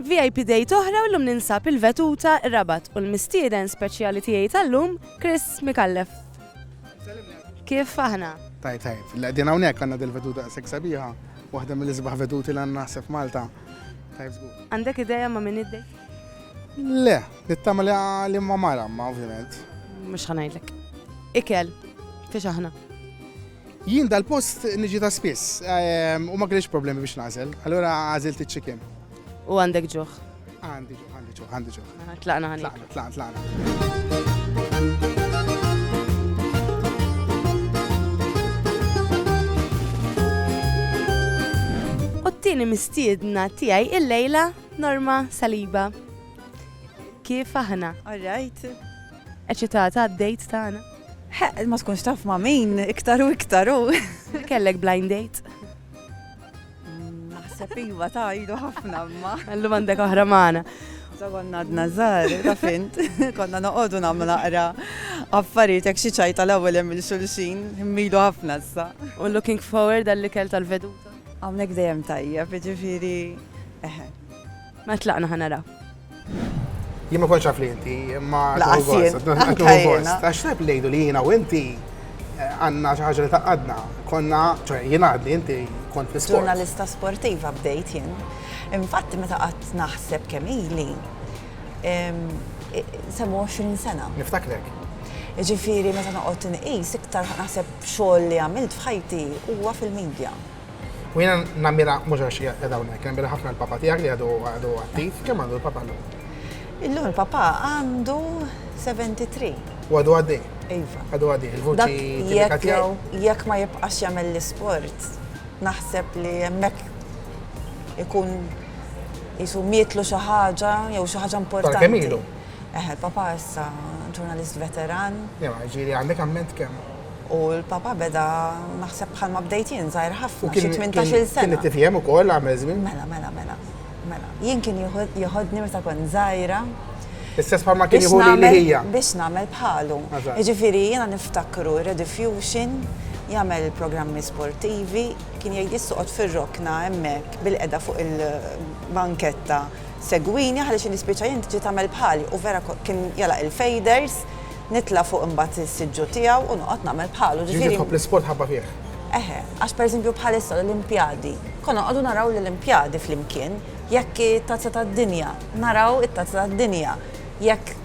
Vip Date oħra u llum ninsab il-vetuta Rabat u l-mistieden speċjali tiegħi tal-lum Chris Micallef. Kif aħna? Tajjeb tajjeb. Li qegħdin hawnhekk għandna dil-vetuta daqshekk sabiħa, waħda mill-isbaħ vetuti li għandna naħseb f'Malta. Tajjeb żgur. Għandek idea ma' min id Le, nittama li ma' mara ma' ovvjament. Mhux ħa ngħidlek. Ikel, fiex aħna? Jien dal-post niġi ta' spiss u ma kellix problemi biex nagħżel, allura għażilt iċ-chicken. U għandek ġuħ? Għandi ġuħ, għandi ġuħ, għandi ġuħ. Mela, tlaqna ħani. Tlaqna, tlaqna, tlaqna. it-tieni mistiedna tiegħi il-lejla Norma Saliba. Kif aħna? All right. Eċitata għad-dejt tagħna. Ħeqq, ma tkunx taf ma' min, iktar u iktar u. Kellek blind date? Naħseb iva ta' ilu ħafna ma. Għallu għandek oħra magħna. Konna għadna żgħar, ta' fint, konna noqogħdu nagħmlu naqra affarijiet hekk xi ċajta l-ewwel hemm il-xulxin, immilu ħafna issa. U looking forward għall-ikel tal-veduta? Hawnhekk dejjem tajjeb, jiġifieri eħe. Ma tlaqna ħa naraw. Jien ma kontx li inti, imma għax tajb lejdu li jiena u inti eh, għandna xi ħaġa li taqadna. Konna, ċe jien għadni inti kont fl Ġurnalista sportiva bdejt jien. Infatti meta qatt naħseb kemm ili semmu 20 sena. Niftaklek. Ġifiri, meta noqgħod inqis iktar naħseb xogħol li għamilt f'ħajti huwa fil-medja. U jena namira mhux għax qiegħda hawnhekk, namira ħafna l-papa tiegħek li għadu għadu attiv, kemm għandu l-papa llum? Illum il-papa għandu 73. U għadu għaddi? Iva. Għadu għaddi, il-vuċi tipika tiegħu? Jekk ma jibqax jagħmel l-isport, naħseb li hemmhekk ikun jisu mietlu xi ħaġa jew xi ħaġa importanti. Kemm ilu? Eħe, papa issa ġurnalist veteran. Jew ġieli għandek amment kemm? U l-Papa beda, naħseb bħalma bdejt jien, żgħir ħafna, xi tmintax-il sena. Kien it-TVM ukoll għamel żmien? Mela, mela, mela. Mela, jien kien jieħodni meta kont żgħira. Istess bħalma kien jieħodni li hija. Biex nagħmel bħalu. Jiġifieri jiena niftakru Redifusion jagħmel programmi sportivi, kien jgħid jissoqgħod fir-rokna hemmhekk bil-qeda fuq il-banketta segwini ħaliex nispiċċa jien tiġi tagħmel bħali u vera kien jalaq il-fejders. nitla' fuq imbagħad is-siġġu tiegħu u noqgħod nagħmel bħalu. Ġifieri Ġifieri tħobb l-isport ħabba fih. Eħe, għax pereżempju bħalissa l-Olimpjadi, konna noqogħdu naraw l-Olimpjadi flimkien, jekk it-Tazza tad-Dinja, naraw it-Tazza tad-Dinja, jekk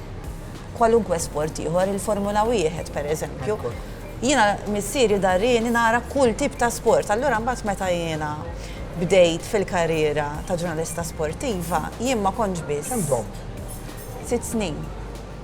kwalunkwe sport ieħor, il-Formula Wieħed pereżempju. Jiena missieri darieni nara kull tip ta' sport. Allura mbagħad meta jiena bdejt fil-karriera ta' ġurnalista sportiva, jien ma kontx biss. Kemm domt? Sitt snin.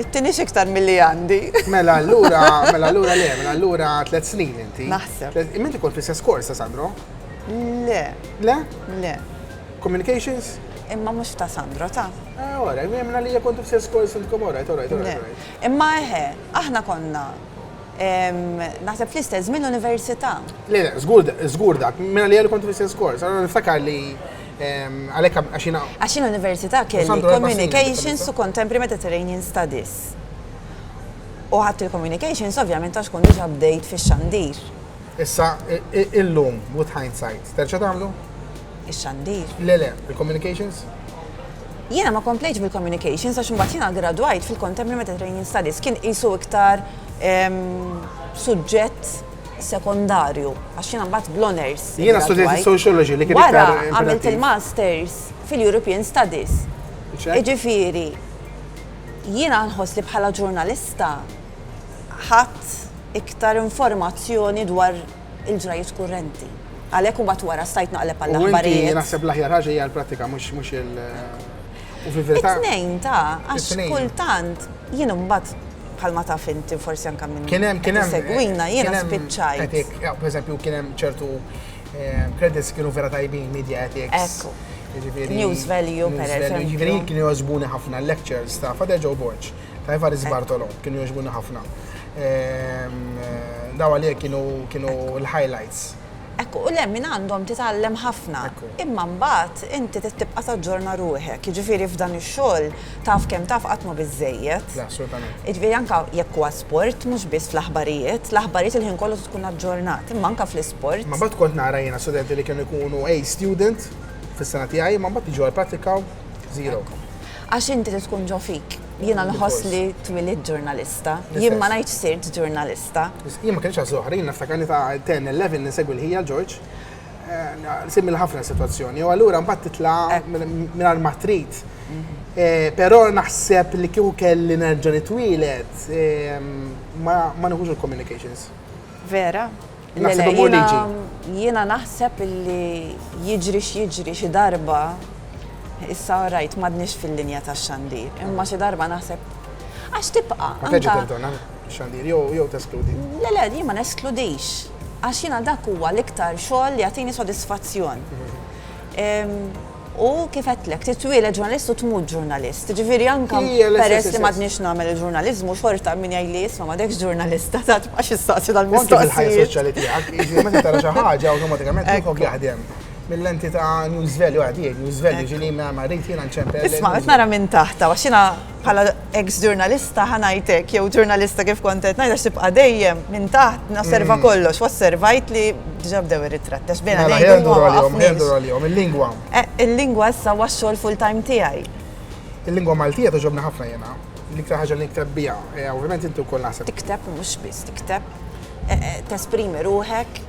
It-tieni x'iktar milli għandi. Mela allura, mela allura le, mela allura tliet snin inti. Naħseb. Minti kont l-istess korsa, Sandro? Le. Le? Le. Communications? Imma mhux ta' Sandro, ta'. Eh, ora, jemna li kont l-istess kors intkom ora, ora, ora. Imma eħe, aħna konna naħseb fl-istess żmien università. Le, le, żgur dak, mela li kont l-istess kors, għana niftakar li Għalhekk għax jiena. Għax jiena università kelli Communications u Contemporary Mediterranean Studies. U ħadd il-Communications ovvjament għax kont diġà bdejt fix-xandir. Issa illum with hindsight, terġa' tagħmlu? Ix-xandir? Le le, il-Communications? Jiena ma komplejtx bil-Communications għax imbagħad jiena gradwajt fil-Contemporary Mediterranean Studies kien qisu iktar suġġett sekondarju, għax jiena mbagħad bl-honors. Jiena studenti sociology li kien Wara għamilt il-masters fil-European Studies. Iġifieri, jiena nħoss li bħala ġurnalista ħadd iktar informazzjoni dwar il-ġrajiet kurrenti. Għalhekk u bat wara stajt naqleb għall-aħbarijiet. Naħseb l-aħjar ħaġa hija l-pratika mhux mhux il- U fil-verità. It-tnejn ta' għax kultant jien imbagħad bħalma taf inti forsi anke minn. Kien hemm kien hemm. Segwina jiena spiċċajt. Per eżempju kien hemm ċertu eh, credits kienu vera tajbin media ethics. Ekku. Jiġifieri- News value per eżempju. Jiġifieri kienu jogħġbuni ħafna lectures ta' Fader Joe Borg, ta' Evaris Bartolo, kienu jogħġbuni ħafna. Ehm, eh, daw għalija kienu l-highlights. Hekk u le, minn għandhom titgħallem ħafna. Imma mbagħad inti trid tibqa' taġġorna ruħek. Jiġifieri f'dan ix-xogħol taf kemm taf qatt mhu biżżejjed. Le, assolutament. Jiġifieri anke jekk huwa sport, mhux biss fl-aħbarijiet. L-aħbarijiet il-ħin kollu trid tkun aġġornat, imma anke fl-isport. Imma mbagħad kont nara jiena studenti li kienu jkunu A student fis-sena tiegħi, imma mbagħad jiġu għall-prattika u zero. Ekku. Għax inti trid tkun ġo fik. Jiena nħoss li twilidt ġurnalista. Jien ma ngħidx sirt ġurnalista. sta. Jien ma kellix għażla oħra, jien niftakarni ta' 10, 11 nisegwi l-ħija George. Eh, Simil ħafna situazzjoni, u allura mbagħad titla' eh. mingħajr ma trid. Mhm. Eh, però naħseb li kieku kelli nerġa' nitwielet ehm, ma nħuġ il-communications. Vera? Jiena naħseb li jiġri x'jiġri xi darba issa rajt m'għadniex fil-linja tax-xandir, imma xi darba naħseb għax tibqa'. Xandir jew jew teskludi? Le le, jien ma neskludix. Għax jiena dak huwa l-iktar xogħol li jagħtini sodisfazzjon. U kif għedtlek, titwieled ġurnalist u tmut ġurnalist. Ġifieri anke peress li m'għadniex nagħmel il-ġurnaliżmu xorta min jgħidli isma' m'għadekx ġurnalist ta' tibqax issaqsi dal-mistoqsijiet. Anke fil-ħajja soċjali tiegħek, jiġifieri meta tara xi ħaġa awtomatikament moħħok jaħdem. Mill-lenti ta' news value, għadi, news value, ġieli ma rrid jiena nċempel. Isma' qed nara minn taħt, għax jiena. Bħala eks ġurnalista ħa ngħid hekk, jew ġurnalista kif kont qed ngħid għax tibqa' dejjem minn taħt nosserva mm. kollox, osservajt li diġà bdew ir-ritratt għax bejna mela, ngħidu huwa għalihom il-lingwa. Eh, il-lingwa issa huwa x-xogħol full-time tiegħi. Il-lingwa Maltija toġobni ħafna jiena. L-iktar ħaġa li nikteb biha, eh, ovvjament inti wkoll naħseb. Tikteb mhux biss, tikteb eh, tesprimi ruħek.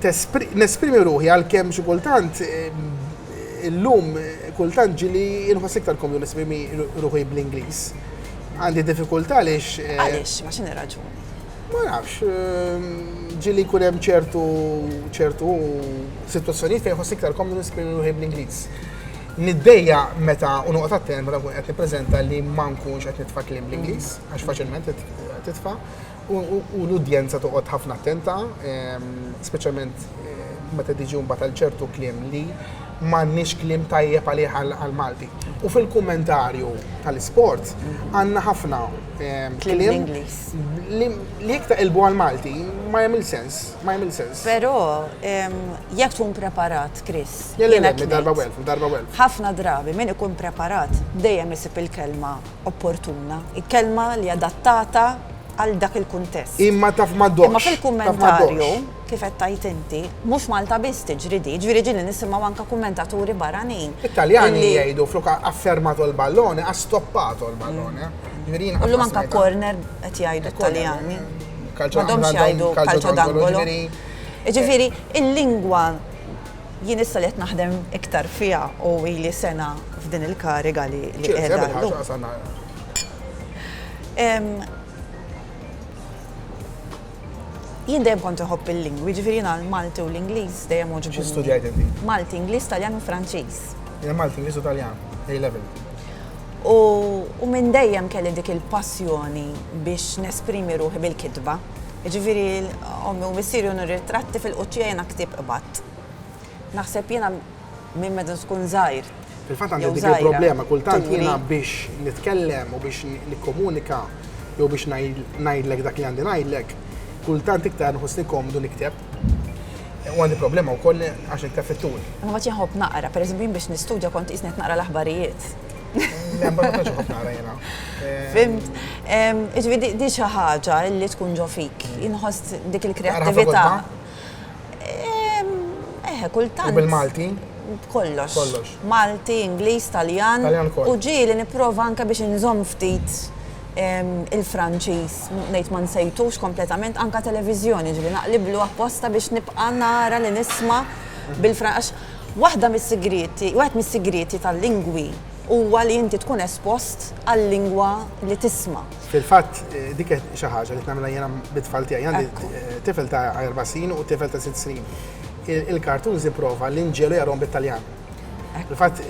Nesprimi ruħi għalkemm xi kultant Illum kultant ġieli inħoss iktar komdu nesprimi ruħi bl-Ingliż. Għandi diffikultà għaliex. Eh, għaliex, ma x'inhi raġuni? Ma nafx, ehm, ġieli jkun hemm ċertu ċertu sitwazzjonijiet fejn ħoss iktar komdu nesprimi ruħi bl-Ingliż. Niddejja meta u noqgħod attent meta nkun qed nippreżenta li ma nkunx qed nitfa' kliem bl-Ingliż, għax faċilment titfa'. U l-udjenza toqgħod ħafna attenta, speċjalment meta tiġi mbagħad għal ċertu kliem li m'għandniex kliem tajjeb għalih għall-Malti. U fil-kummentarju tal-isport għandna ħafna kliem li iktar ilbu għall-Malti ma jagħmel sens, ma jagħmel sens. Però jekk tkun preparat, Chris. Darba welf, darba welf. Ħafna drabi min ikun preparat dejjem isib il-kelma opportuna, kelma li adattata għal dak il-kuntest. Imma taf ma ddoqx. Imma fil-kummentarju, kif qed tgħid inti, mhux Malta biss tiġri di, jiġifieri ġieli nisimgħu anke kummentaturi barranin. It-Taljani jgħidu flok ha fermato il ballone, ha stoppato il ballone. Illum anke corner qed jgħidu t-Taljani. M'għadhomx jgħidu calcio d'angolo. Jiġifieri l-lingwa. Jien issa li qed naħdem iktar fiha u ili sena f'din il-kariga li qiegħda llum. Jien dejjem kont inħobb il-lingwi, jiġifieri jiena l-Malti u l-Ingliż dejjem għoġbuni. Xi studjajt inti? Malti, Ingliż, Taljan u Franċiż. Jiena Malti, Ingliż u Taljan, A level. U minn dejjem kelli dik il-passjoni biex nesprimi ruħi bil-kitba. Jiġifieri ommi u missieri u nirritratti fil-quċċija jiena ktieb qbadt. Naħseb jiena minn meta tkun żgħir. Fil-fatt għandi dik il-problema, kultant jiena biex nitkellem u biex nikkomunika jew biex ngħidlek dak li għandi ngħidlek, kultant iktar nħossni komdu nikteb. U għandi problema wkoll għax nikteb fit-tul. Imma mbagħad jien nħobb naqra, pereżempju jien biex nistudja kont qisni qed naqra l-aħbarijiet. Fimt. Iġifieri di xi ħaġa li tkun ġo fik. Inħoss dik il-kreattività. Eħe, kultant. U bil-Malti? B'kollox. Kollox. Malti, Ingliż, Taljan. Taljan ukoll. U ġieli nipprova anke biex inżomm ftit il-Franċiż, ngħid ma nsejtux kompletament, anke televiżjoni, ġieli naqliblu apposta biex nibqa' nara li nisma' bil-Franċiż. Waħda mis-sigrieti, wieħed mis-sigrieti tal-lingwi huwa li inti tkun espost għal-lingwa li tisma'. Fil-fatt, dik hi xi ħaġa li qed nagħmilha jiena bit-tfal tiegħi. Għandi tifel ta' erba' snin u tifel ta' sitt snin. Il-cartoons ipprova li nġegħlu jaqrahom bit-Taljan. Fil-fatt,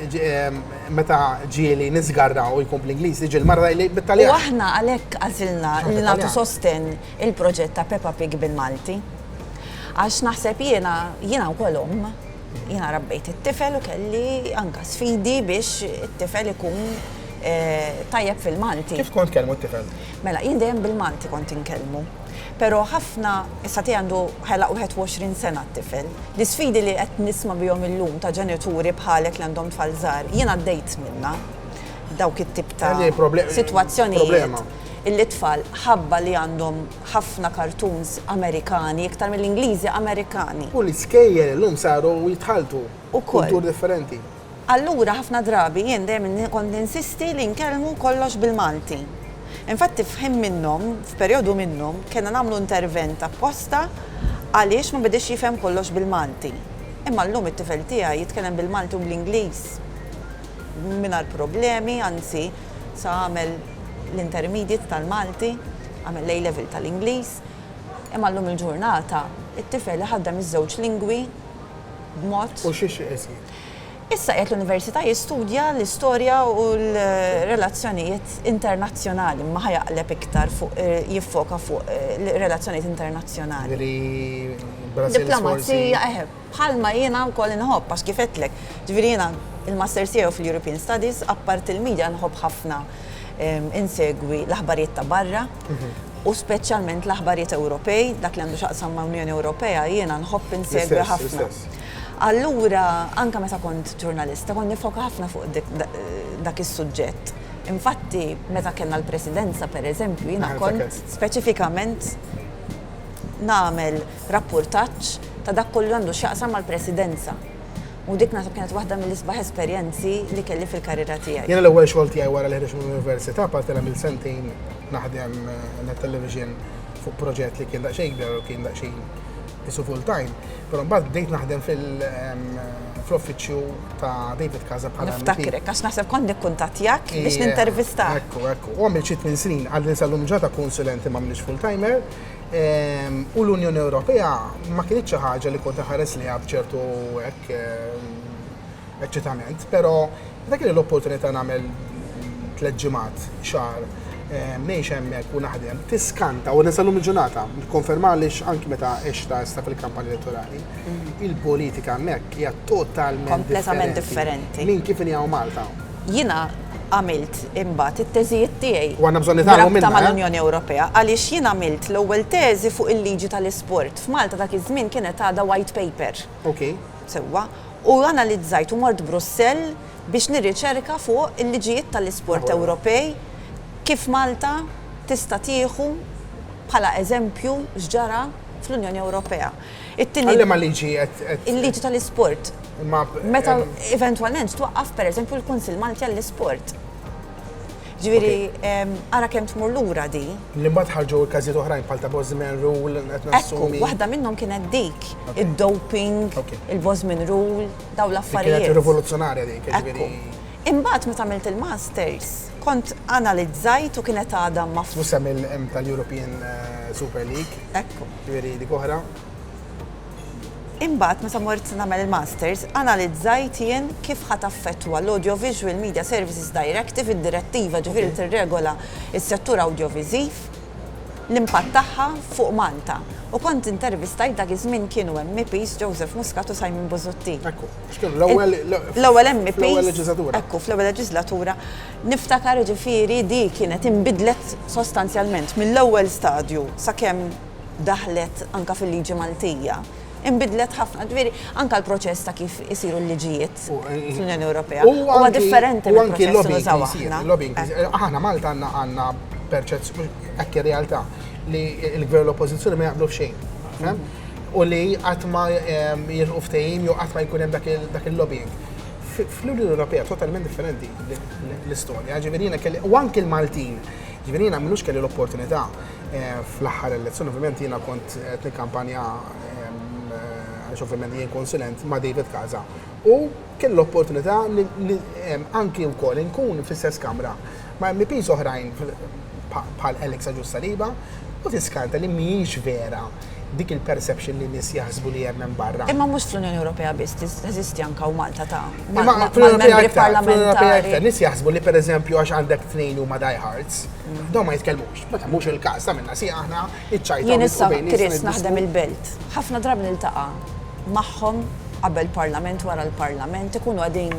meta ġieli niżgarra u jkun bl-Ingliż, tiġi l-mara tgħidli bit-Taljan. U aħna għalhekk għażilna li nagħtu sostenn il-proġett ta' Peppa Pig bil-Malti. Għax naħseb jiena, jiena wkoll omm, jiena rabbejt it-tifel u kelli anka sfidi biex it-tifel ikun tajjeb fil-Malti. Kif kont tkellmu t-tifel? Mela, jien dejjem bil-Malti kont inkellmu. Pero ħafna, issa tiegħi għandu ħelaq 21 sena t-tifel, l-isfidi li qed nisma' bihom illum ta' ġenituri bħalek li għandhom tfal żgħar, jien għaddejt minnha dawk it-tip ta' sitwazzjonijiet. illi t-tfal ħabba li għandhom ħafna cartoons Amerikani iktar milli Ingliżi, Amerikani. U l-iskejjel illum saru jitħalltu. Ukoll. Kulturi differenti. Allura ħafna drabi jien dejjem kont ninsisti li nkellmu kollox bil-Malti. Infatti f'ħin minnhom, f'perjodu minnhom, kellna nagħmlu intervent apposta għaliex ma bediex jifhem kollox bil-Malti. Imma llum it-tifel tiegħi jitkellem bil-Malti u bl-Ingliż mingħajr problemi, anzi sa għamel, l-intermediate tal-Malti, għamel l-A-Level tal-Ingliż, imma llum il-ġurnata t-tifel iħaddem iż-żewġ lingwi b'mod. U xi xi qed jgħid? Issa qiegħed l-Università jistudja l-istorja u l-relazzjonijiet internazzjonali, imma ħa jaqleb iktar fuq jiffoka fuq relazzjonijiet internazzjonali. Jiġifieri Brussels forsi. Diplomazija, eħe. Bħalma jiena wkoll inħobb, għax kif għedtlek, ġifieri jiena il-Masters tiegħi hu fil-European Studies, apparti l-media nħobb ħafna insegwi l-aħbarijiet ta' barra u speċjalment l-aħbarijiet Ewropej, dak li għandu x'jaqsam ma' Unjoni Ewropea jiena nħobb insegwi ħafna. Allura anke meta kont ġurnalista kont niffoka ħafna fuq dak is-suġġett. Infatti meta kellna l-Presidenza, pereżempju, jiena kont speċifikament nagħmel, rappurtaġġ ta' dak kollu li għandu x'jaqsam mal-Presidenza. U dik naħseb kienet waħda mill-isbaħ esperjenzi li kelli fil-karriera tiegħi. Jiena l-ewwel xogħol tiegħi wara li ħriġt mill-Università, apparti li għamilt sentejn naħdem għal television fuq proġett li kien daqsxejn kbir u kien daqsxejn qisu full time, però mbagħad bdejt naħdem fl-uffiċċju ta' David Casa bħala MP. Niftakrek, għax naħseb kont nikkuntattjak biex nintervistak. Ekku, ekku. U għamilt xi tmien snin, għadni sal-lum il-ġurnata konsulenti ma m'iniex full timer. u l-Unjoni Ewropea ma kienx xi ħaġa li kont iħares liha b'ċertu hekk eċċitament, però meta kelli l-opportunità nagħmel tliet ġimgħat, xahar, ngħix hemmhekk u naħdem, tiskanta u nisal-lum il-ġurnata, nikkonfermaha għaliex anki meta għextha issa fil-kampanja elettorali, il-politika hemmhekk hija totalment differenti minn kif inhi hawn Malta. jiena għamilt imbagħad it-teżijiet tiegħi b'rabta mal-Unjoni Ewropea għaliex jien għamilt l-ewwel teżi fuq il-liġi tal-isport. F'Malta dak iż-żmien kienet għadha white paper. Sewwa. U analizzajt u mort Brussell biex nirriċerka fuq il-liġijiet tal-isport Ewropej, kif Malta tista' tieħu bħala eżempju x'ġara fl-Unjoni Ewropea. Għalliema liġi qed. Il-liġi tal-isport. Imma. Meta eventwalment twaqqaf pereżempju l-Kunsill Malti għall-Isport. Ġifieri ara kemm tmur lura di. Li mbagħad ħarġu każijiet oħrajn bħal ta' Bosman Rule qed nassumi. Ekku, waħda minnhom kienet dik, id-doping, il-Bosman Rule, dawn l-affarijiet. Kienet rivoluzzjonarja dik, ġifieri. Imbagħad meta għamilt il-masters, Kont analizzajt u kienet għadha ma. Mhux se mill hemm tal-European Super League. Ekku. Ġifieri dik oħra. Imbagħad meta mort nagħmel il-Masters, analizzajt jien kif ħa taffettwa l-Audiovisual Media Services Directive, id-direttiva ġifieri li tirregola s-settur awdjoviżiv, l-impatt tagħha fuq Malta. U kont intervistajt dak iż-żmien kienu MPs Joseph Muscat u Simon Busuttil. Ekku. X'kienu l-ewwel l-ewwel MP. Fl-ewwel leġislatura. Ekku, fl-ewwel leġislatura. Niftakar jiġifieri di kienet inbidlet sostanzjalment mill-ewwel stadju sakemm daħlet anke fil-liġi Maltija. Inbidlet ħafna, ġifieri anke l-proċess ta' kif isiru l-liġijiet fl-Unjoni Ewropea huwa differenti mill-proċess li nużaw aħna. Lobbying, aħna Malta għandna għandna perċezzjoni hekk ir-realtà li l-Gvern u l-Oppożizzjoni ma jaqblu f'xejn. u li qatt ma jilħqu ftehim jew qatt ma jkun hemm dak il-lobbying. Fl-Unjoni Ewropea totalment differenti l-istorja, ġifieri jiena kelli u anki l-Maltin, ġifieri jiena m'ilux kelli l-opportunità fl-aħħar elezzjoni, ovvjament jiena kont qed nikkampanja għaliex ovvjament jien konsulent ma' David Casa u kelli l-opportunità li anki wkoll inkun fl-istess Kamra. ma' MEPs oħrajn bħal Alex Agius Saliba u tiskanta li mhijiex vera dik il-perception li nies jaħsbu li hemm hemm barra. Imma mhux fl-Unjoni Ewropea biss teżisti anke u Malta ta' mal-membri parlamentari. Nies jaħsbu li pereżempju għax għandek tnejn li huma die hards, dawn ma jitkellmux. Meta mhux il-każ tagħmilna sieq aħna iċ-ċajt. Jien issa Kris naħdem il-Belt. Ħafna drabi niltaqa' magħhom qabel Parlament wara l-Parlament ikunu qegħdin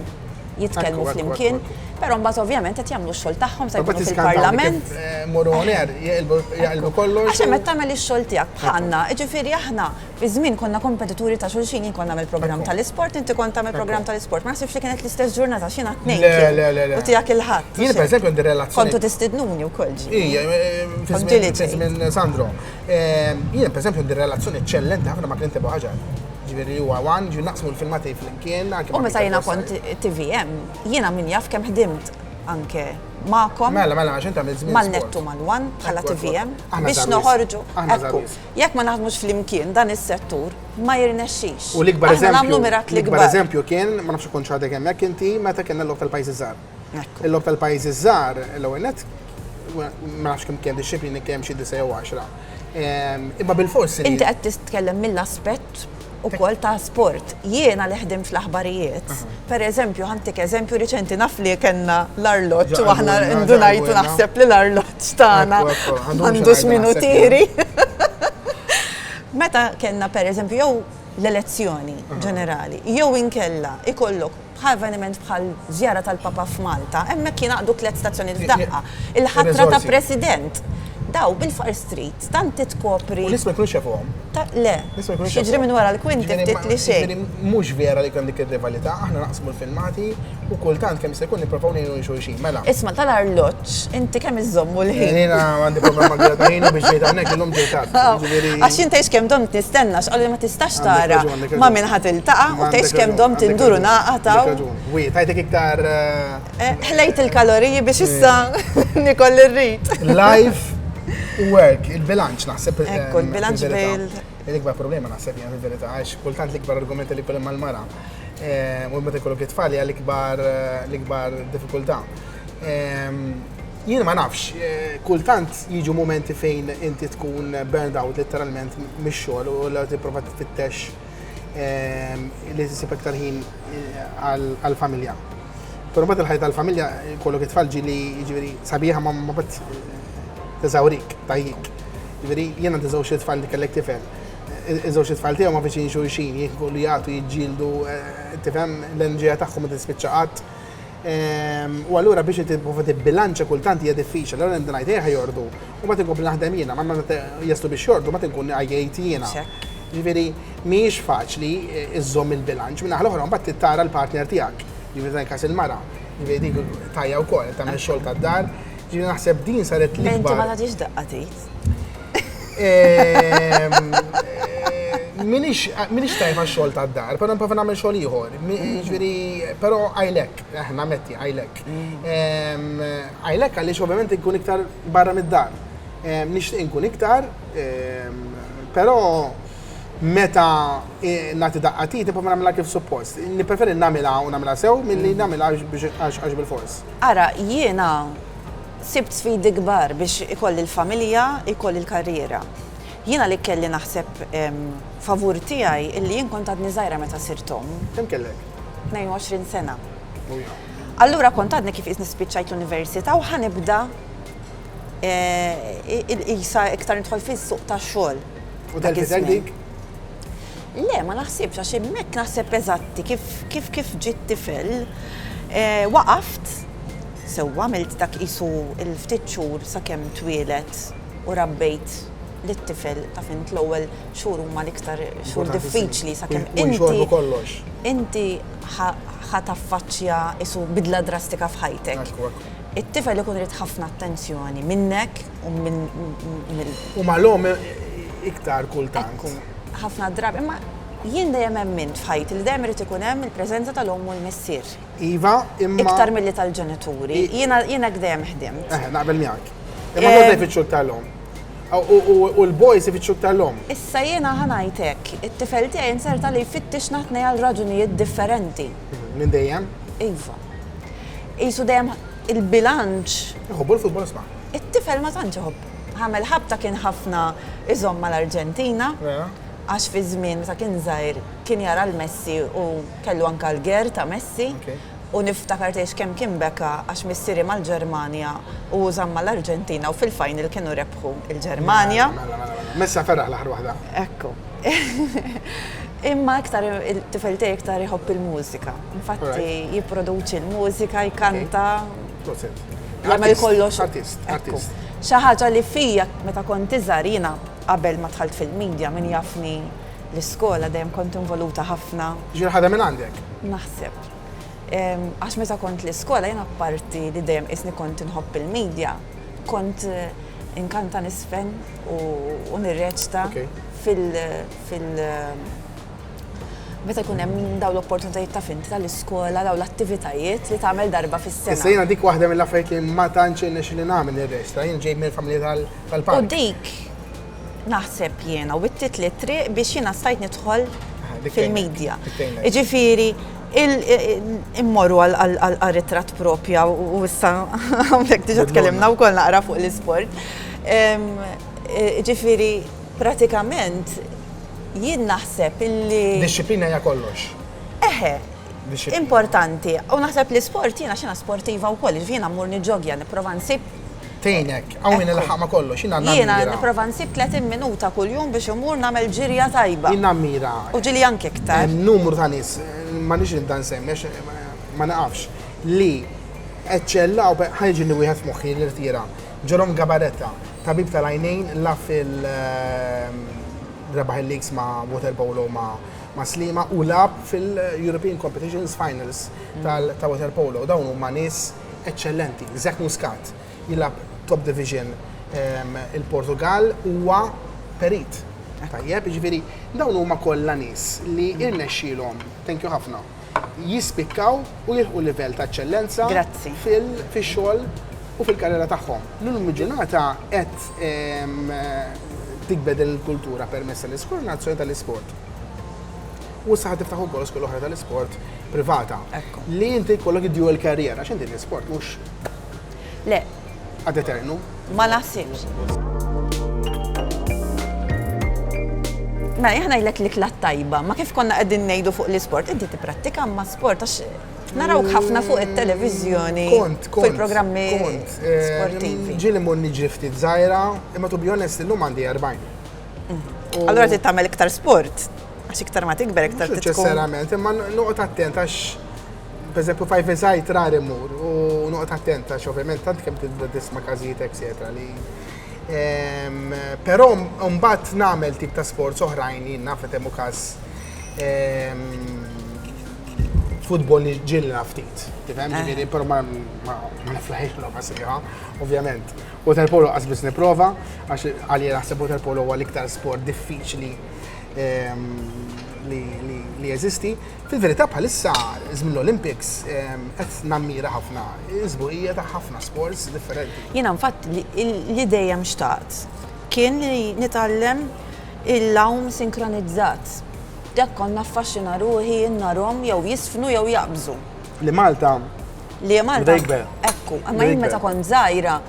jitkellmu flimkien, però mbagħad ovvjament qed jagħmlu x-xogħol tagħhom se jkunu fil-Parlament. Eh, Morru għoner, jaqilbu kollox. Għax hemm tagħmel ix-xogħol tiegħek bħalna, ġifieri aħna fi żmien konna kompetituri ta' xulxin jien konna nagħmel programm tal-isport, inti kont tagħmel programm tal-isport. Ma naħsibx li kienet l-istess ġurnata x'jiena tnejn. Le, le, le, le. U tiegħek il-ħadd. Jien pereżempju għandi relazzjoni. Kontu tistidnuni wkoll ġi. Ija, eh, fi żmien Sandro. Jien, per eżempju, għandi relazzjoni eċċellenti ħafna ma' Clint Ebu Ħaġar. Ġifieri huwa wan, ġifieri naqsmu l-filmati flimkien. U meta jiena kont TVM, jiena min jaf kemm ħdimt anke ma'kom. Mela, mela, għax inta mill-żmien. Mal-nettu mal-wan bħala TVM biex noħorġu. Ekku, jekk ma naħdmux flimkien dan is-settur ma jirnexxix. U l-ikbar eżempju. Nagħmlu mirakli kbar. L-ikbar eżempju kien, ma nafx kont x'għadek hemmhekk inti, meta kellna l-logħob tal-pajjiżi żgħar. Il-logħob tal-pajjiżi ż-żgħar l-ewwel nett ma nafx kemm kemm dixxiplini kemm xi disa' jew għaxra. Ehm, imma bil-fors. Inti qed titkellem mill-aspett ukoll ta' sport. Jiena li ħdim fl-aħbarijiet, per eżempju, ħantik eżempju riċenti naf li kellna l-arloġġ u aħna ndunajtu naħseb li l-arloġġ tagħna għandux minu tiri. Meta kellna per eżempju jew l-elezzjoni ġenerali, jew inkella ikollok Bħal avveniment bħal żjara tal-Papa f'Malta, hemmhekk jingħaqdu tliet stazzjonijiet f'daqqa. Il-ħatra ta' President. Daw bil-faqar street, tant titkopri. U nies ma jkunux jafuhom. Le. Nies ma jkunux jafuhom. X'jiġri minn wara l-kwinti ftit li xejn. Jiġifieri mhux vera li jkun hemm dik ir-rivalità, aħna naqsmu l-filmati u kultant kemm jista' jkun nipprovaw ngħinu lil xulxin. Mela. Isma' tal-arloġġ, inti kemm iżżommu l-ħin? Jiena għandi problema kbira ta' ħin u biex ġejt hawnhekk illum ġejt tard. Jiġifieri. Għax jien tgħidx kemm domt nistenna x'qalu li ma tistax tara ma' min ħa tiltaqa' u tgħidx kemm domt indur u ngħaqad hawn. Għandek raġun. Wi, tajtek iktar. Ħlejt il-kaloriji biex issa niekol li rrid. Life u work, il-bilanċ naħseb. Ekku, il-bilanċ bejn. L-ikbar problema naħseb jiena fil-verità għax kultant l-ikbar argument li jkun hemm mal-mara. u meta jkollok it-tfal hija l-ikbar l-ikbar diffikultà. Jien ma nafx, kultant jiġu momenti fejn inti tkun burned out letteralment mix-xogħol u l tipprova tfittex li tisib iktar ħin għall-familja. Però mbagħad il-ħajja tal-familja jkollok it-tfal ġieli jiġifieri sabiħa ma mbagħad teżawrik, tgħajjik. Jiġifieri jien għandi żewġ it-tfal li kellek tifel. Iż-żewġ itfal tiegħu ma' viċin xulxin, jikbru, jagħtu, jiġġieldu, tifhem, l-enerġija tagħhom ma tispiċċa qatt. U allura biex inti tipprova tibbilanċja kultant hija diffiċli, allura nibda ngħid ejja jorqdu, u mbagħad inkompli naħdem jiena, ma meta jaslu biex jorqdu mbagħad inkun għajjejt jiena. Jiġifieri mhijiex faċli żżomm il-bilanċ. Min-naħa l-oħra mbagħad trid tara l-partner tiegħek, jiġifieri f'dan il-każ il-mara, jiġifieri dik tgħajja wkoll, qed tagħmel ix-xogħol tad-dar, jiġifieri naħseb din saret l-ikbar. Inti ma tagħtix daqqa t'id. Minix tajb għax-xogħol tad-dar, però nipprova nagħmel xogħol ieħor. Jiġifieri, però għajlek, aħna metti għajlek. Għajlek għaliex ovvjament inkun iktar barra mid-dar. Nixtieq inkun iktar, però meta nagħti daqqatit nipprova nagħmilha kif suppost. Nippreferi nagħmilha u nagħmilha sew milli nagħmilha għax bilfors. Ara, jiena Sibt sfidi kbar biex ikolli l-familja, ikolli l-karriera. Jiena li kelli naħseb favur tiegħi illi jien kont għadni żgħira meta sirt omm. Kemm kellek? 22 sena. Allura kont għadni kif qisni spiċċajt l-università u ħa nibda qisha iktar nidħol fis-suq tax-xogħol. U telfet għajnejk? Le, ma naħsibx għax hemmhekk naħseb eżatti kif kif kif ġiet tifel waqaft. Sewwa għamilt dak qisu l-ftit xhur sakemm twieled u rabbejt lit-tifel, taf int l-ewwel xhur huma l-iktar xhur diffiċli sakemm inti inti ħa taffaċċja qisu bidla drastika f'ħajtek. It-tifel ikun irid ħafna attenzjoni minnek u minn mill-. U mal-omm iktar kultant. Ekku, ħafna drabi, imma jien dejjem emmint f'ħajti li dejjem irid ikun hemm il-preżenza tal-omm u l-missier. Iva, imma. Iktar milli tal-ġenituri. Jiena hekk dejjem ħdimt. Eħe, naqbel miegħek. Imma eh, jgħodda jfittxu tal-om. U l-boys ifittxu tal-om. Issa jiena ħanajtek, it-tifel tiegħi inserta li jfittix naħtnej għal raġunijiet differenti. Mhm, minn dejjem? Iva. Isu dejjem il-bilanċ. Iħobbu l-futbol sma. It-tifel ma tantx iħobb. Ħamel ħabta kien ħafna iżomm mal-Arġentina. Għax fi żmien ta' kien żgħir kien jara l-Messi u kellu anke l-ger ta' Messi u niftakar tgħidx kemm kien beka għax missieri mal-Ġermanja u hu żamm mal-Arġentina u fil-final kienu rebħu l-Ġermanja. Mela, mela, mela. Messi għad ferraħ l-aħħar waħda. Ekku. Imma iktar it-tifel tiegħi iktar iħobb il-mużika. Infatti jipproduċi l-mużika, jkanta. Proset. Jagħmel kollox. Artist, artist. Xi ħaġa li fija meta kont iżgħar jiena qabel ma dħalt fil-media min jafni L-iskola dejjem kont involuta ħafna. Jiġifieri ħadha minn għandek? Naħseb. Għax meta kont l-iskola jien apparti li dejjem qisni kont inħobb il-media, kont inkanta niżfen u nirreċta fil meta jkun hemm dawn l-opportunitajiet taf int tal-iskola, dawn l-attivitajiet li tagħmel darba fis-sena. Issa jiena dik waħda mill-affarijiet li ma tantx irnexxieli nagħmel nirreċta, jien ġej minn familja tal-punk. U dik? naħseb jiena, wittit li triq biex jiena stajt nidħol fil-medja. Ġifiri, immorru għal-ritrat propja u issa għamlek diġa tkellimna u koll naqra fuq l-sport. Ġifiri, pratikament, jien naħseb illi. Disciplina ja kollox. Eħe, importanti. U naħseb li sport jiena xina sportiva u koll, ġifiri jiena mmur nġogja, niprofa nsib Tgħinek, qawwini nilħaq ma' kollox, jiena nammira. Jiena nipprova nsib 30 minuta kuljum biex immur nagħmel ġirja tajba. Jien nammira. U ġieli anke iktar. Numru ta' nies, m'għandix nibda nsemmi għax ma niqafx, li eċċellaw, ħa jiġini wieħed f'moħħi li rtira, Jerome Gabaretta, tabib tal-għajnejn la fil, rebaħ il-leagues ma' water polo ma' Sliema u lagħab fil-European Competitions Finals ta' water polo. Dawn huma nies. eċċellenti. Zach Muscat jilgħab top division il-Portugal huwa perit. Tajjeb, jiġifieri dawn huma kollha nies li irnexxielhom, thank you ħafna, jispikkaw u jilħqu livell ta' eċċellenza fix-xogħol u fil-karriera tagħhom. L-illum il-ġurnata qed tikber din il-kultura permezz tal-Iskor Nazzjonali tal-Isport. U s-saħħa tiftaħ ukoll skol oħra tal-isport privata. Li inti jkollok id-dual career, għax inti l-isport mhux. Le. Ad eternu. Ma naħsibx. Mela, jħana jlek li klat tajba, ma kif konna għedin nejdu fuq l-sport, inti t-prattika ma sport, għax naraw ħafna fuq il-televizjoni, fuq il-programmi eh, sportivi. Ġili monni ġifti t-zajra, imma tu bjonest l-lum għandi 40. Allora trid tagħmel iktar sport. Għax iktar ma tikber, iktar tikber. Ċesserament, imma noqgħod attent għax pereżempju fajf eżajt rar imur u noqgħod attent għax ovvjament tant kemm tibda tisma' każijiet eċetera li ehm, Però mbagħad nagħmel tip ta' sports oħrajn jien naf hemm każ ehm, futbol li ġilna ftit. Tifhem, eh. ġifieri, però ma niflaħiex l-oqa sejħa, ovvjament. Waterpolo qas biss nipprova, għax għalli naħseb waterpolo huwa l-iktar sport diffiċli ehm, li jeżisti. Fil-verità bħalissa żmien l-Olympics ehm, qed nammira ħafna, iżbuqija ta' ħafna sports differenti. Jiena nfatt li dejjem xtaqt kien li nitgħallem il-lawm sinkronizzat. Dak konna affaxxina ruħi, narom jew jisfnu jew jaqbżu. Li Malta. Li Malta. Ekku, ma jien meta kont żgħira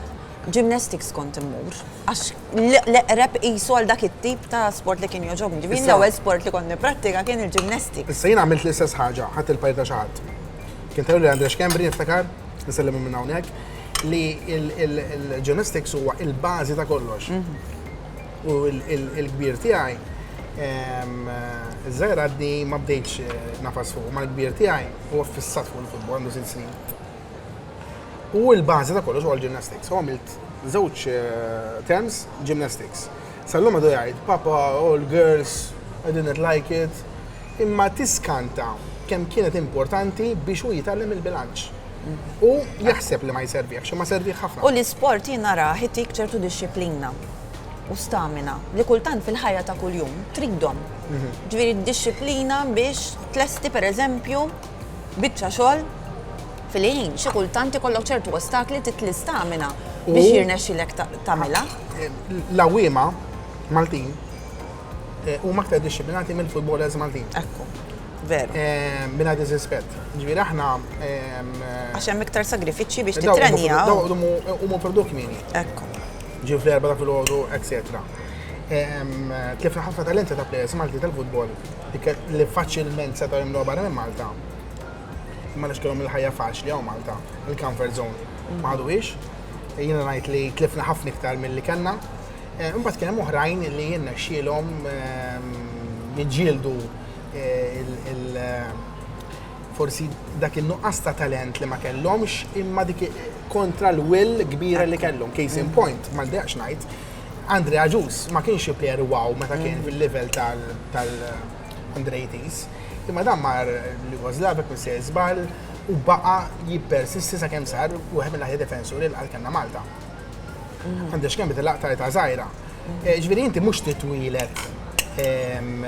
gymnastics kont immur. Għax l-eqreb jisu għal dak it-tip ta' sport li kien joġobni. Ġivin l-ewwel sport li kont niprattika kien il-gymnastics. Issa jien għamilt l-istess ħaġa, ħadd il-pajr ta' xaħat. Kien tajlu li Andrex Kembri niftakar, nisellimu minn hawnhekk, li il-gymnastics huwa il-bażi ta' kollox. Mhm. U l-kbir tiegħi, iż-żgħir għadni ma bdejtx eh, nafas fuq, ma l-kbir tiegħi huwa fissat fuq il-futbol għandu sitt snin. U l-bażi ta' kollox huwa l-gymnastics. U għamilt żewġ eh, terms gymnastics. Sallum għadu jgħid, papa, all oh, girls, I didn't like it. Imma tiskanta kemm kienet importanti biex u jitgħallem il-bilanċ. U jaħseb li ma jserviex, ma serviex ħafna. U l-isport jina raħ itik ċertu disċiplina. u stamina li kultant fil-ħajja ta' kuljum tridhom. Ġifieri d-dixxiplina biex tlesti pereżempju biċċa xogħol fil-ħin. Xi kultant ikollok ċertu ostakli trid l-istamina biex jirnexxilek tagħmilha. L-għawwiema Maltin eh, huma aktar dixxiplinati mill-futbolers Maltin. Ekku, veru. Eh, Mina diżrispett. Ġifieri aħna ehm, Għax hemm iktar sagrifiċċji biex titrenjaw. Huma produk mini. Ekku. ġew fl-erba ta' filgħodu, etc. Kif ħafna talenti ta' players Malti tal-futbol li faċilment setgħu jimlu barra minn Malta, ma nix kellhom il-ħajja faċli għaw Malta, il-comfort zone. Ma għadu ix, jina najt li tlifna ħafna iktar mill-li kena. Eh, imbagħad kien hemm oħrajn li jenna xilhom ehm, jiġġieldu eh, il- eh, forsi dak il-nuqqas ta' talent li ma kellhomx imma dik kontra l-will kbira li kellhom. Case in point, ma ndaqx ngħid, Andre Aġus ma kienx xi player wow meta kien mm. fil-level tal-under 80s. Imma dan mar li Gozlabek minn se żball u baqa jippersisti sa kemm sar u għem l-aħjar defensuri l għalkanna Malta. Mm. Għandex kemm bidil laqta ta' zaħira. Mm. Eh, ġviri inti mux titwilet ehm,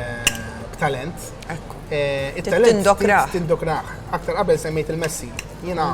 talent. Eh, Tindokraħ. Tindokraħ. Aktar qabel semmejt il-Messi. Jena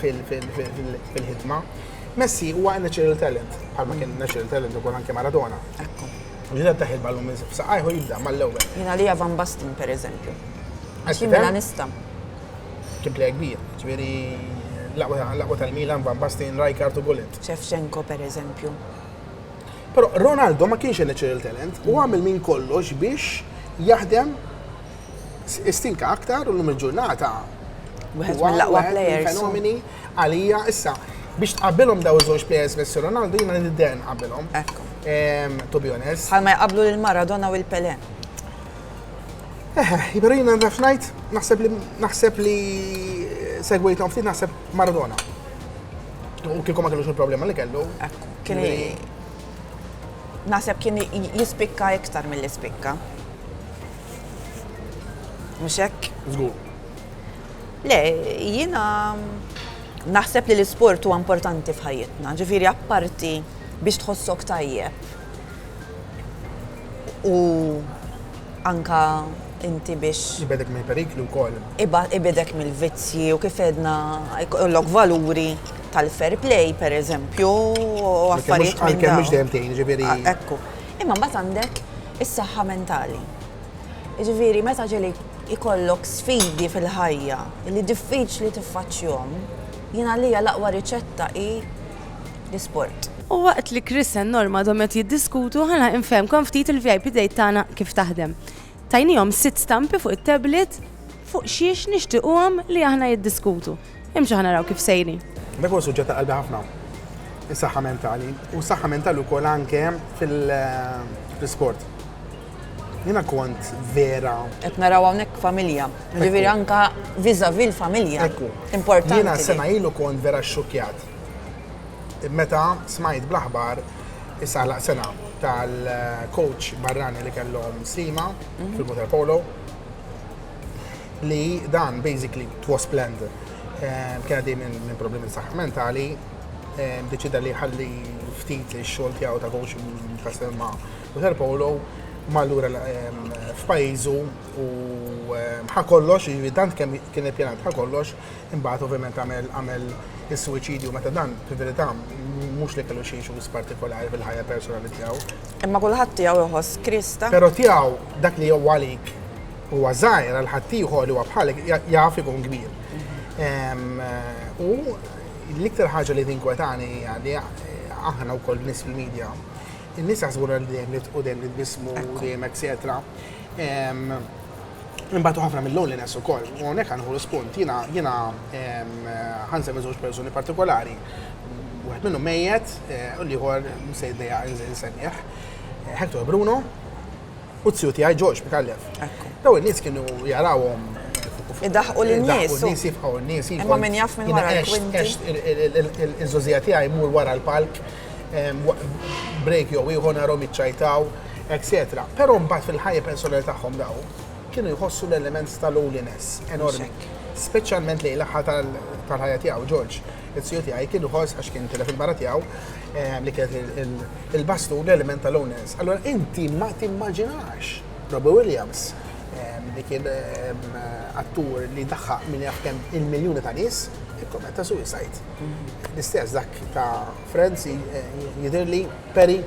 fil-ħidma. Messi huwa natural talent, bħalma kien natural talent ukoll anke Maradona. Ekku. Ġiet ta' ħidma l-lum saqajħu jibda mal-ewwel. Jina li Van Basten per eżempju. Għaxi Milanista. Kien plej kbir, ġveri laqwa tal-Milan, Van Basten, Rijkaard u Gullit. Shevchenko per eżempju. Pero Ronaldo ma kienx natural talent, u għamil minn kollox biex jaħdem Stinka aktar u l-lum il-ġurnata. Wieħed mill-aqwa players. Fenomeni għalija issa biex tqabbilhom daw iż-żewġ players Messi Ronaldo jiena li nidder nqabbilhom. Ekku. To be honest. Bħalma jqablu lil Maradona u l Pele. Eħe, jiberu jiena nraf ngħid naħseb li naħseb li segwejthom ftit naħseb Maradona. U kieku ma kellux il-problema li kellu. Ekku. Kien naħseb kien jispikka iktar mill-ispikka. Mhux hekk? Żgur. Le, jiena naħseb li l-isport huwa importanti f'ħajjitna, ġifieri apparti biex tħossok tajjeb. U anka inti biex. Ibedek mill-periklu wkoll. Ibedek mill-vizzji u kif edna jkollok valuri tal-fair play, per eżempju, u affarijiet. Għalkemm mhux dejjem tgħin, ġifieri. Ekku. Imma mbagħad għandek is-saħħa mentali. Jiġifieri meta ġieli jkollok sfidi fil-ħajja li diffiċli tiffaċċjhom, jien għalija l-aqwa riċetta hi l-isport. U waqt li Chrisen Norma dhom qed jiddiskutu, ħana infehmkom ftit il-VIP Date tagħna kif taħdem. Tajniehom sitt stampi fuq it-tablet fuq xiex nixtiquhom li aħna jiddiskutu. Imxu ħana raw kif sejri. Dak huwa suġġett ta' qalbi ħafna. Is-saħħa mentali. U s-saħħa mentali wkoll anke fil-sport. Jina kont vera. Qed naraw hawnhekk familja. Ġifieri anka viżavi l-familja. Ekku. Importanti. Jina sena ilu kont vera xxukjat. Meta smajt blaħbar issa laq sena tal-coach barrani li kellhom slima mhm. fil-water polo li dan basically was planned. Eh, kien għaddej minn problemi saħħa mentali, eh, deċida li ħalli ftit xogħol tiegħu ta' coach Kastelma u Sir Polo mallura eh, f'pajjiżu u ħa kollox, jiġifieri dan kemm kien ippjanat ħa kollox, imbagħad ovvjament għamel għamel is-suwiċidju meta dan fil-verità mhux li kellu xi issues partikolari fil-ħajja personali tiegħu. Imma kulħadd tiegħu jħoss Krista. Però tiegħu dak li huwa għalik huwa żgħir għal ħaddieħor li huwa bħalek jaf ikun kbir. U l-iktar ħaġa li tinkwetani hija li aħna wkoll nies fil-medja, in-nies jaħsbu li dejjem nitqu dejjem nitbismu dejjem etc. Imbagħad ħafna mill-loneliness ukoll. U hawnhekk għanħu l-spunt, jiena jiena ħansem żewġ persuni partikolari. Wieħed minnu mejjet eh, u l-ieħor se jdejja insemmiħ. Eh, Hector Bruno, u t-siju tiegħi George Mikallef. Daw in-nies kienu jarawhom Idaħqu l-nies. Nies jifqaw n-nies. Imma min jaf minn wara l-kwinti. Il-żożija tiegħi mur wara l-palk, break jew ieħor narhom iċċajtaw, etc. Però mbagħad fil-ħajja personali tagħhom daw kienu jħossu l-element tal-loneliness enormi. Speċjalment lejn l-aħħar tal-ħajja tiegħu George. It-tiju tiegħi kien ħoss għax kien tilef il-mara tiegħu eh, li kienet il-bastu l-element tal-owners. Allora inti ma timmaġinax Robbie Williams eh, li kien eh, attur li daħħa minn jafkem il-miljoni ta' nies ikkommetta suicide. L-istess dak ta' Friends jidir li Perry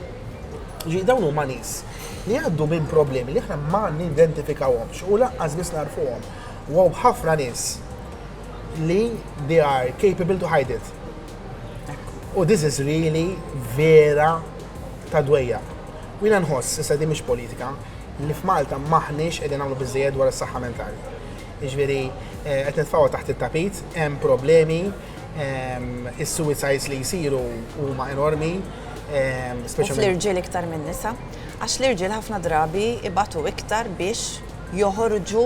ġi dawn huma nies li għaddu minn problemi li aħna ma nidentifikawhomx u laqqas biss narfuhom. Wow ħafna nies li they are capable to hide it. U this is really vera ta' dwejja. U jina nħoss, issa di mhix politika, li f'Malta maħniex qegħdin nagħmlu biżejjed dwar is-saħħa mentali. Jiġifieri eh, qed nitfgħu taħt it-tapit, hemm problemi, ehm, is-suicides li jsiru huma enormi, ehm, speċjalment Fl-irġiel iktar minn nisa, għax l-irġiel ħafna drabi ibatu iktar biex joħorġu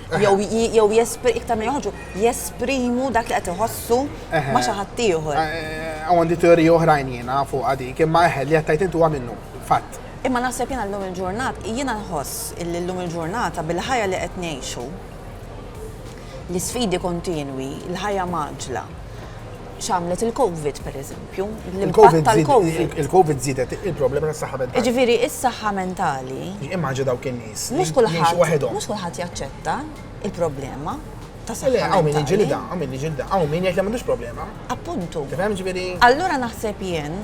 Jew iktar minn joħorġu, jesprimu dak li qed iħossu ma' xi ħadd ieħor. Għandi teorija oħrajn jiena fuq dik, imma eħe li qed tgħid intu minnu, fatt. Imma naħseb jiena llum il-ġurnat, jiena nħoss li llum il-ġurnata bil-ħajja li qed ngħixu, l-isfidi kontinwi, l-ħajja mgħaġġla, x'għamlet il-Covid, pereżempju, l-impatt tal-Covid. Il-Covid żiedet il-problema tas-saħħa mentali. Jiġifieri s-saħħa mentali. Immaġina dawk in-nies. Mhux kulħadd. Mhux kulħadd jaċċetta il-problema tas-saħħa mentali. Hawn min jiġilidha, hawn min jiġilidha, hawn min jgħid li m'għandux problema. Appuntu. Tifhem, jiġifieri. Allura naħseb jien.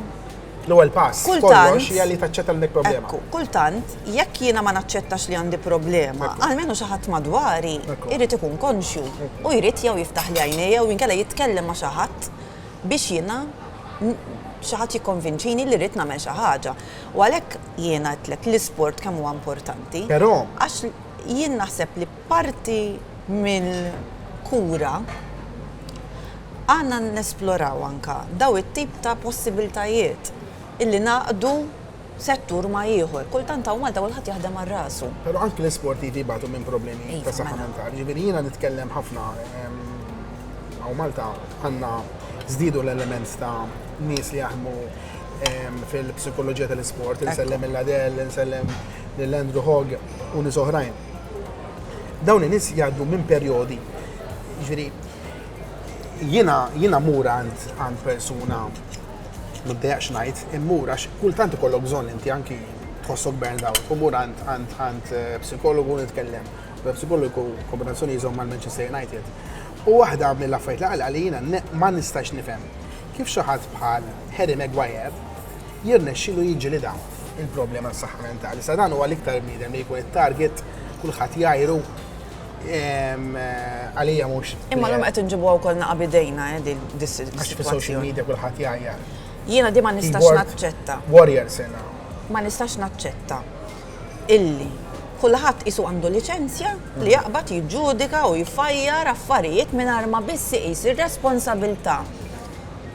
L-ewwel pass kollox hija li taċċetta l-nek problema. Kultant, jekk jiena ma naċċettax li għandi problema, għalmenu xi ħadd madwari jrid ikun konxju u jrid jew jiftaħ li għajnejja jew inkella jitkellem ma' xi ħadd biex jiena xi ħadd jikkonvinċini li rrid nagħmel xi ħaġa. U għalhekk jiena għedtlek l-isport kemm huwa importanti. Però. Għax jien naħseb li Parti mill-kura għandna nesploraw anke dawn it-tip ta' possibiltajiet illi ngħaqqdu settur ma' ieħor. Kultant hawn Malta kulħadd jaħdem għal rasu. Però anke l-isportivi jbatu minn problemi ta' saħħa mentali. Jiġifieri jiena nitkellem ħafna hawn Malta għandna żdiedu l-element ta' nies li jaħdmu fil-psikoloġija tal-isport. Insellem lil Adel, insellem lil Andrew Hogg u nies oħrajn. Dawn in-nies jgħaddu minn perjodi, jiġifieri jiena jiena mur għand għand persuna m'intejaqx ngħid, immur għax kultant ikollok bżonn inti anki tħossok burned out, u mur għand għand għand eh, psikologu nitkellem, u psikologu kombinazzjoni jżomm mal-Manchester United. U waħda mill-affarijiet li qal li jiena ma nistax nifhem kif xi ħadd bħal Harry Maguire jirnexxilu jiġġilidha il-problema tas-saħħa mentali. Sa dan huwa l-iktar bniedem li jkun it-target kulħadd jgħajru ehm, għalija mhux. Imma l-lum qed inġibuha wkoll naqa' bidejna eh, din Għax fi social media kulħadd jgħajjar. Jiena di ma nistax naċċetta. Warrior sena. Ma nistax naċċetta illi kulħadd isu għandu liċenzja li jaqbad jiġġudika u jfajjar affarijiet mingħajr ma biss iqis ir-responsabilità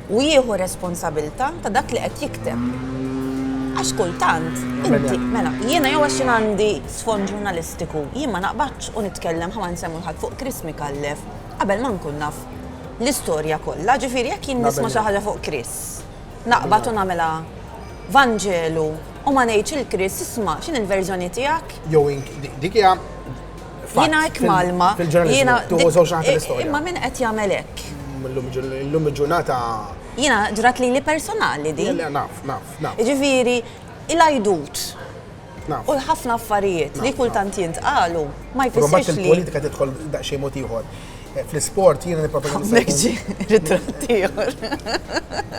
u jieħu r-responsabilità ta' dak li qed jikteb. Għax kultant, inti, mela, jiena jew għax jien għandi sfond ġurnalistiku, jien ma naqbadx u nitkellem ħa ma nsemmu l-ħadd fuq Chris Micallef qabel ma nkun naf l-istorja kollha, ġifieri jekk jien nisma' xi ħaġa fuq Chris, naqbad u nagħmilha vanġelu u ma ngħidx lil Chris isma' x'inhi l-verżjoni tiegħek? Jew dik hija Jiena hekk malma. Jiena tuħu żewġ naħat l-istorja. Imma min qed jagħmel hekk? Illum il-ġurnata. Jiena ġrat li li personali di. Naf, naf, naf. Ġifieri, il-ajdut. U l-ħafna affarijiet li kultant jintqalu ma jfissirx li. Il-politika tidħol daqsxejn mod ieħor. Eh, fl-isport jiena nipproponi. Meġġi, ritratt ieħor.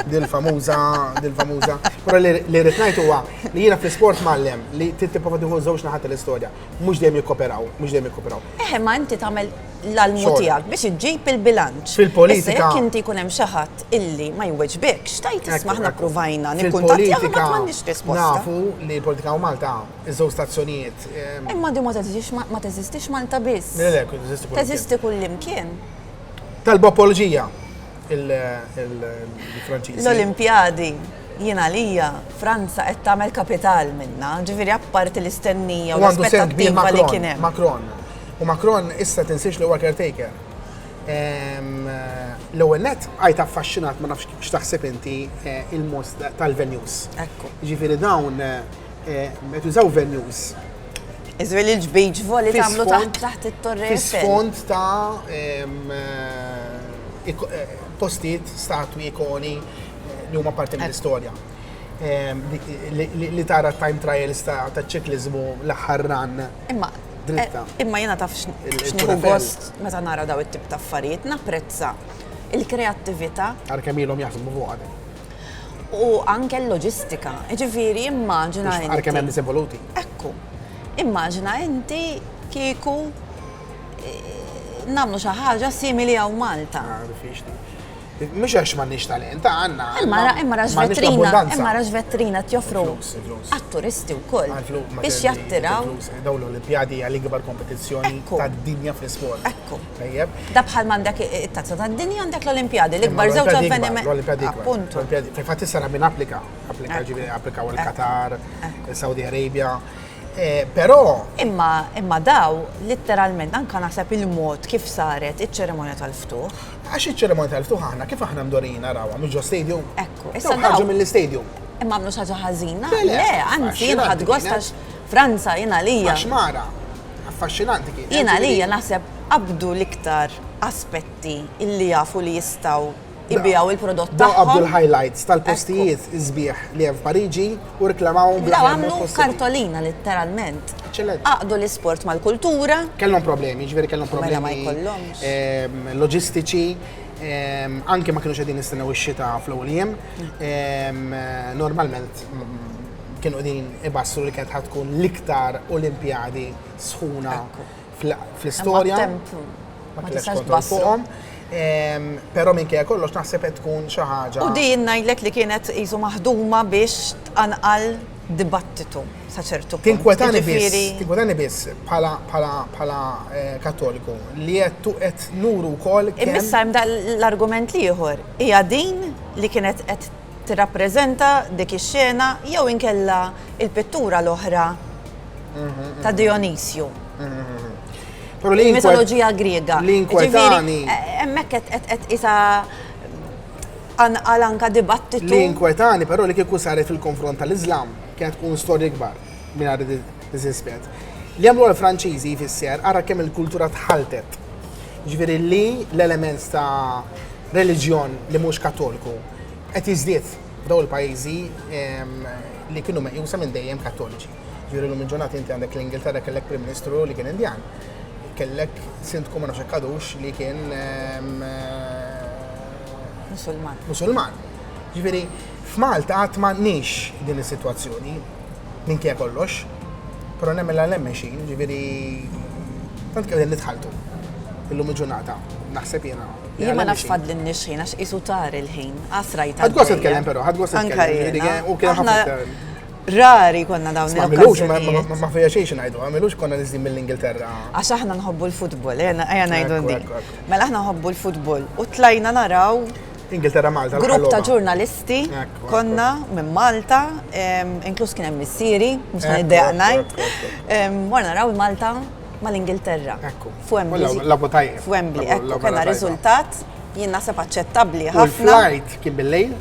Dil-famuża, dil-famuża. Però li rrid ngħid huwa li jiena fl-isport mallem li trid tipprova tieħu żewġ naħat tal-istorja. mhux dejjem jikkoperaw, mhux dejjem jikkoperaw. Eħe, ma inti tagħmel l-almu tiegħek biex iġġib il-bilanċ. Fil-politika. Jekk inti jkun hemm xi ħadd illi ma jweġbikx, tajt isma' aħna ppruvajna nikkuntattjaw ma m'għandix risposta. Nafu li politika u Malta iżżew stazzjonijiet. Ehm, Imma di ma teżistix ma teżistix Malta biss. Teżisti kull imkien. Talba apologija il-Franċiż. L-Olimpjadi. Jien għalija Franza qed tagħmel kapital minnha, ġifieri apparti l-istennija u l-aspettattiva li kien hemm. Macron. U Macron issa tinsiex li huwa caretaker. L-ewwel net għajt affaxxinat ma nafx x'taħseb inti eh, il-mos tal-venues. Ekku. Ġifieri dawn eh, qed jużaw venues Iżwel il-ġbejġ voli tagħmlu taħt it-torri. Fis-fond ta' eh, eh, postijiet, statwi, ikoni, li huma parti mill-istorja. Ehm, li tara time trials ta' ċiklizmu l-aħħar ran. Imma dritta. Eh, imma jena taf xniħu gost meta nara daw it-tip ta' affarijiet, napprezza il-kreattivita. Għarkem ilhom jaħdmu fuq għadem. U anke l-loġistika, ġifiri immaġina. Għarkem hemm evoluti. Ekku, immaġina inti kieku eh, namlu xi ħaġa simili għaw Malta. Ah, Mhux għax m'għandniex talent, għandna. Imma ra imma rax vetrina, imma rax vetrina tjoffru għat-turisti wkoll biex jattiraw. Dawn l-Olimpjadi hija l-ikbar kompetizzjoni tad-dinja fl-isport. Ekku. Tajjeb. Da bħal m'għandek it-tazza tad-dinja għandek l-Olimpjadi, l-ikbar żewġ avvenimenti. L-Olimpjadi. Appuntu. Fil-fatt issa min applika, applika ġifieri applikaw il-Qatar, Saudi Arabia. Però. Imma, imma daw, litteralment, anke naħseb il-mod kif saret iċ-ċerimonja tal-ftuħ. Għax iċ-ċerimonja tal-ftuħ aħna kif aħna mdorrijin narawha, mhux ġo stadium? Ekku, issa. Ħarġu mill-istadium. Imma għamlu xi ħaġa ħażina? Le, anzi, jien ħadd gost għax Franza jien għalija. Għax mara, affaxxinanti kien. Jien għalija naħseb qabdu l-iktar aspetti illi jafu li jistgħu ibijaw il-prodott tagħhom. Daw qabdu l-highlights tal-postijiet iżbieħ li hemm f'Pariġi u reklamawhom bil għamlu kartolina letteralment. Eċċellent. Aqdu l-isport mal-kultura. Kellhom problemi, ġifieri kellhom mela problemi. ma jkollhomx. Ehm, loġistiċi, ehm, anke ma kienu xedin nistennew ix-xita fl-ewwel jiem. Ehm, normalment kienu qegħdin ibassru li kienet ħatkun l-iktar Olimpjadi sħuna. Ekku fl-istorja. Ma tistax tbassrom. Però minn kja kollox naħseb qed tkun xi ħaġa. U din ngħidlek li kienet qisu maħduma biex tqanqal dibattitu sa ċertu punt. Tinkwetani biss, tinkwetani biss bħala eh, kattoliku li qed qed nuru wkoll. Imissa hemm l-argument l-ieħor hija din li kienet qed tirrappreżenta dik ix-xena jew inkella l-pittura l-oħra ta' Dijonisju. Il-mitoloġija Griega. L-inkwetani. Hemmhekk qed isa anqal anka dibattitu. L-inkwetani però li kieku saret fil-konfront tal-Iżlam kienet tkun storja kbar minn għad diżispett. Li għamlu l-Franċiżi jfisser ara kemm il-kultura tħaltet. Ġifieri li l-element ta' reliġjon li mhux katolku qed jiżdied f'dawn il-pajjiżi li kienu meqjusa minn dejjem Kattoliċi. Ġifieri llum il-ġurnata inti għandek l-Ingilterra kellek Prim Ministru li kien Indjan. Kellek sindku ma nafx għadux li kien Musulman. Musulman. Ġifieri f'Malta qatt m'għandniex din is-sitwazzjoni minkejja kollox, però nemmen l hemm mexjin, ġifieri tant kemm qegħdin nitħalltu illum il-ġurnata naħseb jiena. Jien ma nafx fadlinniex ħin għax qisu tar il-ħin. Għasra jgħid. Ħadd gost titkellem però, ħadd gost titkellem. U kien ħafna Rari konna dawn il-okkażjonijiet. Ma fija xejn ngħidu, għamilux konna niżdin mill-Ingilterra. Għax aħna nħobbu l-futbol, eh, ejja ngħidu di. Mela aħna nħobbu l-futbol u tlajna naraw Ingilterra Malta. Grupp ta' ġurnalisti konna minn Malta, inkluż kien hemm missieri, mhux ngħid dejaq ngħid. Morna naraw Malta mal-Ingilterra. Ekku. F'Wembley. Labu tajjeb. F'Wembley, ekku, kena riżultat jien naħseb aċċettabli ħafna. Il-flight kien bil-lejl?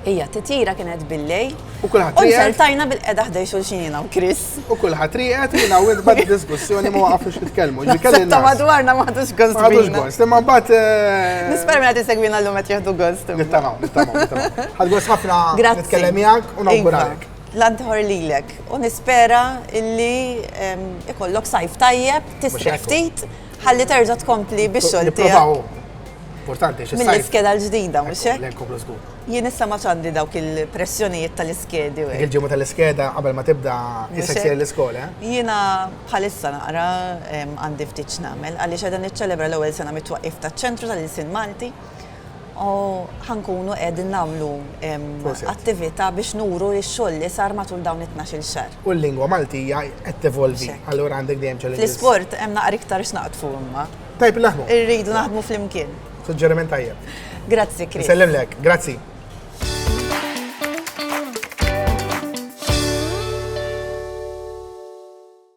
Ija, titjira kienet bil-lej. U kullħat riqet. U xertajna bil-qeda ħdej xulxin jina u Chris. U kullħat riqet jina u id-bad diskussjoni ma waqafux nitkellmu. Ta' madwarna ma ħadux gost. Ħadux gost, imma bat. Eh, Nisper mela tisegwina l-lumet jahdu gost. Nittamaw, nittamaw, nittamaw. Ħad gost ħafna nitkellem jgħak u nawguralek. L-għan teħor lilek u nispera illi ikollok sajf tajjeb, tisriħ ftit, ħalli terġa' tkompli biex xogħol tiegħek. Importanti, xi Mill-iskeda l-ġdida, mhux hekk? Jien issa ma ċandi dawk il-pressjonijiet tal-iskedi. Il-ġimgħa tal-iskeda qabel ma tibda jisseksir l-iskola. Eh? Jiena bħalissa naqra għandi ftit x'nagħmel għaliex qegħda niċċelebra l-ewwel sena mit-twaqqif taċ-Ċentru tal-Ilsien Malti U ħa nkunu qegħdin nagħmlu attività biex nuru x-xogħol li sar matul dawn it-tnax-il xahar. U l-lingwa Maltija qed tevolvi, allura għandek dejjem challenges. Fl-isport hemm naqra iktar x'naqdfu imma. Tajb li naħdmu. Irridu naħdmu flimkien. Suġġeriment tajjeb. Grazzi, Chris. Isellimlek. Grazzi.